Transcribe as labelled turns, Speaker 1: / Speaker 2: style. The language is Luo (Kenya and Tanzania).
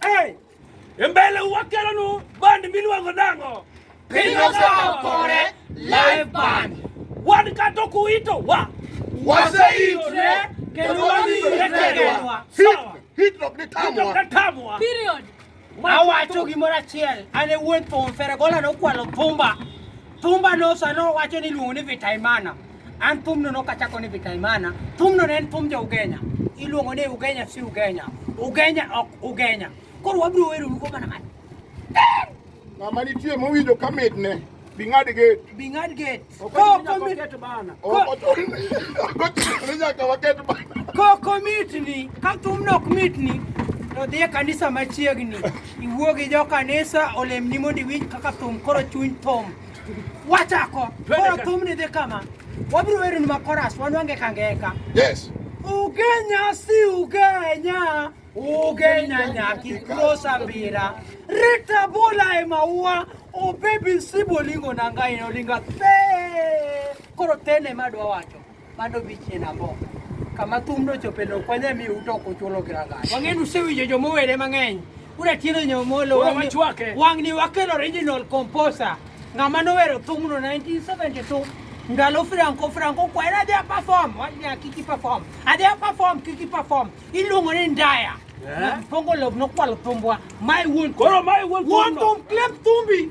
Speaker 1: Hey!
Speaker 2: Embele wakelo nu band miluongo nango. Piny osawo
Speaker 3: kore live band. Wan kato
Speaker 2: kuito wa. Waseitre
Speaker 1: kendo wadhi
Speaker 3: irekedwa. Sawa. Hit rock ni tamwa. Hit
Speaker 1: tamwa. Period.
Speaker 3: Awacho gimoro achiel, an e wuon thum, Feregola nokwalo thumba. Thumba no sano wacho ni iluongo ni Vitaimana. An thumno no kachako ni Vikaimana, thumno ne en thum jo Ugenya. Iluongo ni Ugenya si Ugenya. Ugenya ok Ugenya. Koro wabiro wero lugo mana mana.
Speaker 1: Ng'ama nitie mowinjo ka mitne. Bing'ad gate. Bing'ad
Speaker 3: gate.
Speaker 2: Ko komit
Speaker 1: bana. Ko to nyaka waket bana. Ko komitni,
Speaker 3: ka thumno ok mitni, to dhi e kanisa machiegni. Iwuo gi jo kanisa olemni mondo iwinj kaka thum koro chuny thum. wachako koro thumni dhi kama wabiro weroni ma koras wanwange kangeka yes
Speaker 1: ugenya
Speaker 3: si ugenya ugenya nyaki krosa mbira rita bola e maua obebi sibolingo nangaino linga te koro tene madwa wacho Mano dhi chien ambo. Kama thum nochope no kwanya mi uto kuchulo kiranga. Wang'e usewinjo joma owere mang'eny. Ura tieno nyomolo Ura wachwake. wang'ni wakel original composer. Ng'ama nowero thumno 1972 ndalo Franco Franco kwaera adhi aperform wanya kiki perform adhi aperform kiki perform iluongo ni ndaya Yeah. Pongo love nokwalo thumbwa. My wuon. Koro my wuon Wuon thumno.
Speaker 2: thum klep
Speaker 3: thumbi.